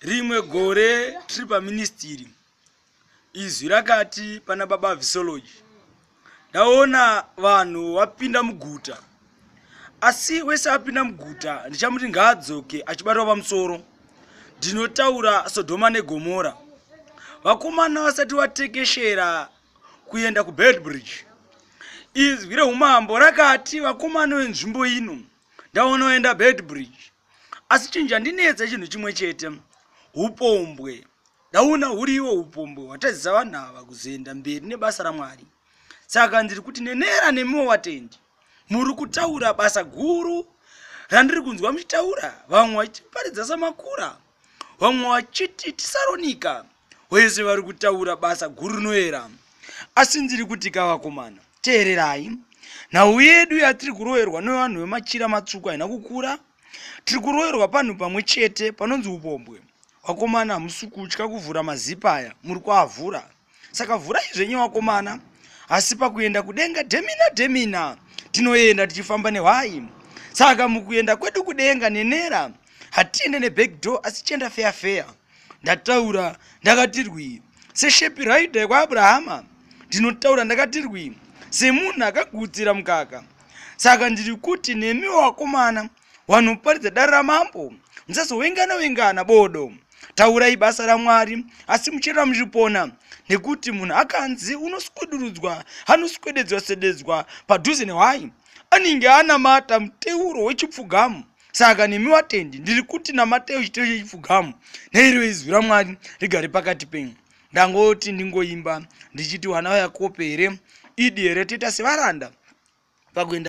rimwe gore tiri paministiri izwi rakati pana baba visology ndaona vanhu vapinda muguta asi wese apinda muguta ndichamuti ngaadzoke achibatwa pamusoro ndinotaura sodhoma negomora vakomana vasati vatekeshera kuenda kubelbridge izwi reumambo rakati vakomana venzvimbo ino ndaona vaenda belbridge asi chinhu chandinetsa chinhu chimwe chete upombwe ndaona huri iwo upombwe hwatadzisa vanhu ava kuzoenda mberi nebasa ramwari saka ndiri kuti nenera nemiwo vatendi muri kutaura basa guru randiri kunzwa muchitaura vamwe vachitiparidza samakura vamwe vachiti tisaronika wese vari kutaura basa guru rinoera asi ndiri kuti kavakomana teererai nhau yedu yatiri kuroverwa nevanhu vemachira matsvuku haina kukura tiri kuroverwa panhu pamwe chete panonzi upombwe vakomana hamusi kutya kuvhura mazipa aya muri kuavhura saka vhurai zvenyu vakomana asi pakuenda kudenga demina demina tinoenda tichifamba nehwai saka mukuenda kwedu kudenga nenera hatiende neback door asi chienda feya feya ndataura ndakatirwi seshepi raida yekwaabhurahama ndinotaura ndakatirwi semunhu akagutsira mukaka saka ndiri kuti nemi wakomana Wanhu muparidze dare ramambo, musazowengana wengana bodo. Taurai basa raMwari asi muchirera muchipona nekuti munhu akanzi unoswedurudzwa anoswededzwa sededzwa padhuze nehwai anenge anamata muteuro wechipfugamu saka nemi watendi ndiri kuti namatei uchiteuro chechipfugamu neiro izwi ramwari rigare pakati penyu ndangoti ndingoimba ndichiti wana wayakope here idi here toita sevaranda pakuenda